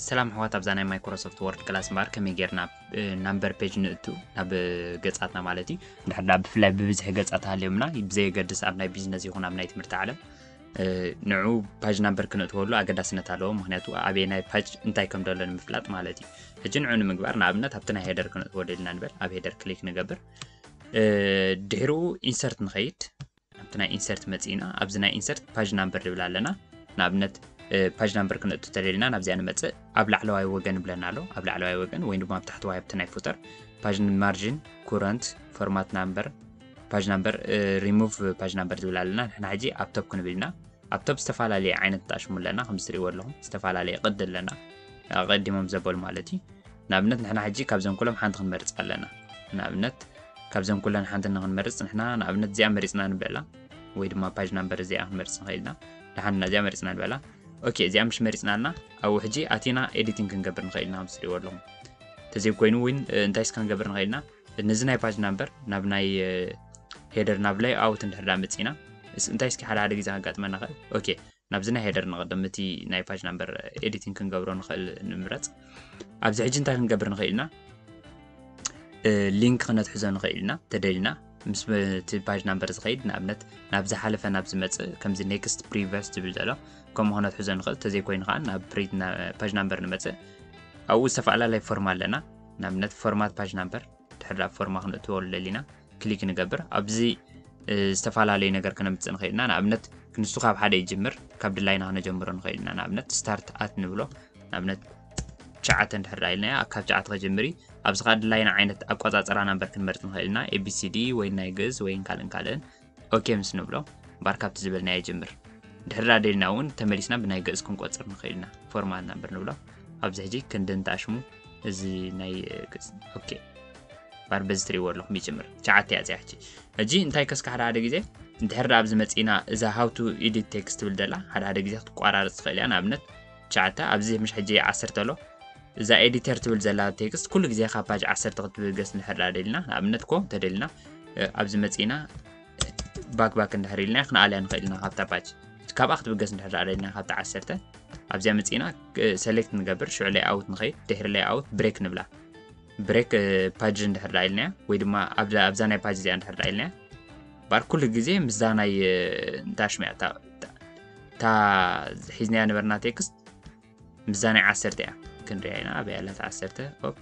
ሰላም ኣሕዋት ኣብዛ ናይ ማይክሮሶፍት ወርድ ክላስ እምበኣር ከመይ ጌርና ናምበር ፔጅ ንእቱ ናብ ገጻትና ማለት እዩ እንድሕዳ ብፍላይ ብብዝሒ ገጻት ሃልዮምና ብዘየገድስ ኣብ ናይ ቢዝነስ ይኹን ኣብ ናይ ትምህርቲ ዓለም ንዑ ፓጅ ናምበር ክንእትወሉ ኣገዳስነት ኣለዎ ምክንያቱ ኣበየ ናይ ፓጅ እንታይ ከም ደሎ ንምፍላጥ ማለት እዩ ሕጂ ንዑ ንምግባር ንኣብነት ኣብቲ ናይ ሄደር ክንእትወሉ ኢልና ንበል ኣብ ሄደር ክሊክ ንገብር ድሕሩ ኢንሰርት ንኸይድ ኣብቲ ናይ ኢንሰርት መፅእና ኣብዚ ናይ ኢንሰርት ፓጅ ናምበር ንብል ኣለና ንኣብነት ፓጅ ናምበር ክንእቱ ተደሊና ናብዚኣ ንመፅእ ኣብ ላዕለዋይ ወገን ብለና ኣሎ ኣብ ላዕለዋይ ወገን ወይ ድማ ኣብ ታሕተዋይ ኣብቲ ናይ ፉተር ፓጅ ማርጅን ኩረንት ፎርማት ናምበር ፓጅ ናምበር ሪሙቭ ፓጅ ናምበር ዝብል ኣለና ንሕና ሕጂ ኣብ ቶፕ ክንብል ኢና ኣብ ቶብ ዝተፋላለየ ዓይነት ጣሽሙ ኣለና ከም ዝትሪእዎ ኣለኹም ዝተፋላለየ ቅዲ ኣለና ኣቐዲሞም ዘበሉ ማለት እዩ ንኣብነት ንሕና ሕጂ ካብዘም ኩሎም ሓንቲ ክንመርጽ ኣለና ንኣብነት ካብዘም ኩለን ሓንቲ ንክንመርጽ ንሕና ንኣብነት እዚኣ መሪጽና ንበላ ወይ ድማ ፓጅ ናምበር እዚኣ ክንመርጽ ንኽእል ኢና ደሓንና እዚኣ መሪጽና ንበላ ኦኬ እዚኣ ምስ መሪጽና ኣለና ኣብኡ ሕጂ ኣቲና ኤዲቲንግ ክንገብር ንኽእል ኢና ከም ዝትሪእዎ ኣለኹም ተዘይኮይኑ እውን እንታይ ስካ ክንገብር ንኽእል ኢና ነዚ ናይ ፓጅ ናምበር ናብ ናይ ሄደር ናብ ላይ ኣውት እንድሕር ዳ መፂና እንታይ እስኪ ሓደ ሓደ ግዜ ከጋጥመና ኸእል ኦኬ ናብዚ ናይ ሄደር ንቐደም እቲ ናይ ፓጅ ናምበር ኤዲቲንግ ክንገብሮ ንኽእል ንምረፅ ኣብዚ ሕጂ እንታይ ክንገብር ንኽእል ኢና ሊንክ ክነትሕዞ ንኽእል ኢና ተደልና ምስ እቲ ፓጅ ናምበር ዝኸይድ ንኣብነት ናብ ዝሓለፈ ናብ ዝመፅእ ከምዚ ኔክስት ፕሪቨስ ዝብል ዘሎ ከምኡ ክነትሕዞ ንኽእል ተዘይኮይኑ ከዓ ናብ ፓጅ ናምበር ንመፅእ ኣብኡ ዝተፈላለላይ ፎርም ኣለና ንኣብነት ፎርማት ፓጅ ናምበር ድሕር ኣብ ፎርማ ክንእትወሉ ደሊና ክሊክ ንገብር ኣብዚ ዝተፈላለዩ ነገር ከነምፅእ ንኽእል ኢና ንኣብነት ክንሱ ካብ ሓደ ይጅምር ካብ ድላይና ክነጀምሮ ንኽእል ኢና ንኣብነት ስታርት ኣት ንብሎ ንኣብነት ሸዓተ እንድሕር ኢልናያ ካብ ሸዓተ ከጀምሪ ኣብዚ ከዓ ድላይና ዓይነት ኣቆፃፅራ ናምበር ክንመርፅ ንኽእል ኢና ኤቢሲዲ ወይ ናይ ግእዝ ወይን ካልእን ካልእን ኦኬ ምስ ንብሎ ባር ካብቲ ዝበልናዮ ይጅምር ድሕር ኣደልና እውን ተመሊስና ብናይ ግእዝ ክንቆፅር ንኽእል ኢና ፎርማል ናምበር ንብሎ ኣብዚ ሕጂ ክንዲ እንተኣሽሙ እዚ ናይ ግእዝ ኦኬ ባር በዚ ትሪእዎ ኣለኹም ይጅምር ሸዓተ እያ እዚኣ ሕጂ ሕጂ እንታይ ከስካ ሓደ ሓደ ግዜ እንድሕር ኣብዚ መፂእና እዛ ሃውቱ ኢዲት ቴክስት ትብል ደላ ሓደ ሓደ ግዜ ክትቋራርፅ ትኽእል እያ ንኣብነት ትሽዓተ ኣብዚ ምሽ ሕጂ ዓሰርተ ኣሎ እዛ ኤዲተር ትብል ዘላ ቴክስት ኩሉ ግዜ ካብ ፓጅ ዓሰርተ ክትብገስ እንድሕር ደኣ ደሊና ንኣብነት ኮ እንተደሊና ኣብዚ መጺእና ባክ ባክ እንድሕር ኢልና ክንኣልያ ንኽእል ኢና ካብታ ፓጅ ካብኣ ክትብገስ እንድሕር ደኣ ደሊና ካብታ ዓሰርተ ኣብዚኣ መጺእና ሰሌክት ንገብር ሽዑ ላይ ኣውት ንኸይድ ድሕሪ ላይ ኣውት ብሬክ ንብላ ብሬክ ፓጅ እንድሕር ደኣ ኢልናያ ወይ ድማ ኣብዛ ናይ ፓጅ እዚኣ እንድሕር ደኣ ኢልናያ ባር ኩሉ ግዜ ምስዛ ናይ እንታይ ሽሚያ እታ ሒዝናያ ነበርና ቴክስት ምስዛ ናይ ዓሰርተ እያ ክንሪያ ኢና ኣበይ ኣላ ዓሰርተ ኦፕ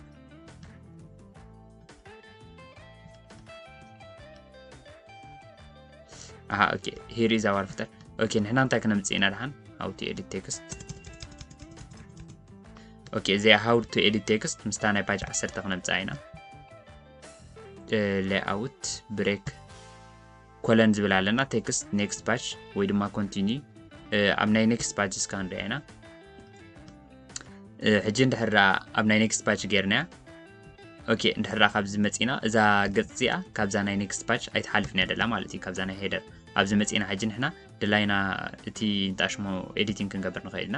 ኣሃ ኦኬ ሂር ኢዝ ኣዋር ፍተር ኦኬ ንሕና እንታይ ክነምፅእ ኢና ድሓን ሃው ቱ ኤዲት ቴክስት ኦኬ እዚኣ ሃው ቱ ኤዲት ቴክስት ምስታ ናይ ፓጅ ዓሰርተ ክነምፅኣ ኢና ሌኣውት ብሬክ ኮለን ዝብል ኣለና ቴክስት ኔክስት ፓጅ ወይ ድማ ኮንቲኒ ኣብ ናይ ኔክስት ፓጅ እስካ ንሪኣ ኢና ሕጂ እንድሕር ኣብ ናይ ኔክስት ፓጅ ገይርናያ ኦኬ እንድሕር ካብዚ መፂና እዛ ገፅ እዚኣ ካብዛ ናይ ኔክስት ፓጅ ኣይትሓልፍን እያ ደላ ማለት እዩ ካብዛ ናይ ሄደር ኣብዚ መፂና ሕጂ ንሕና ድላይና እቲ እንጣሽሞ ኤዲቲንግ ክንገብር ንኽእል ኢና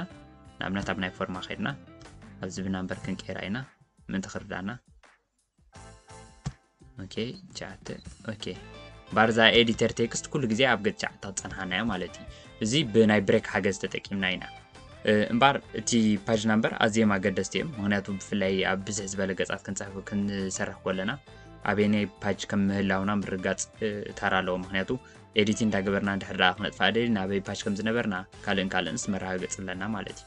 ንኣብነት ኣብ ናይ ፎርማ ከድና ኣብዚ ብናምበር ክንቀይራ ኢና ምእንቲ ክርዳና ኦኬ ቻተ ኦኬ ባርዛ ኤዲተር ቴክስት ኩሉ ግዜ ኣብ ገጽ ቻዕታ ክጸንሓና እያ ማለት እዩ እዚ ብናይ ብሬክ ሓገዝ ተጠቂምና ኢና እምበር እቲ ፓጅ ናምበር ኣዝዮም ኣገደስቲ እዮም ምክንያቱ ብፍላይ ኣብ ብዝሕ ዝበለ ገጻት ክንፅሕፉ ክንሰርሕ ኮለና ኣበየናይ ፓጅ ከም ምህላውና ምርጋፅ ታራ ኣለዎ ምክንያቱ ኤዲት እንዳገበርና እንድሕር ደኣ ክነጥፋ ደሊ ናበይ ፓጅ ከም ዝነበርና ካልእን ካልእንስ መረጋገፂ ኣለና ማለት እዩ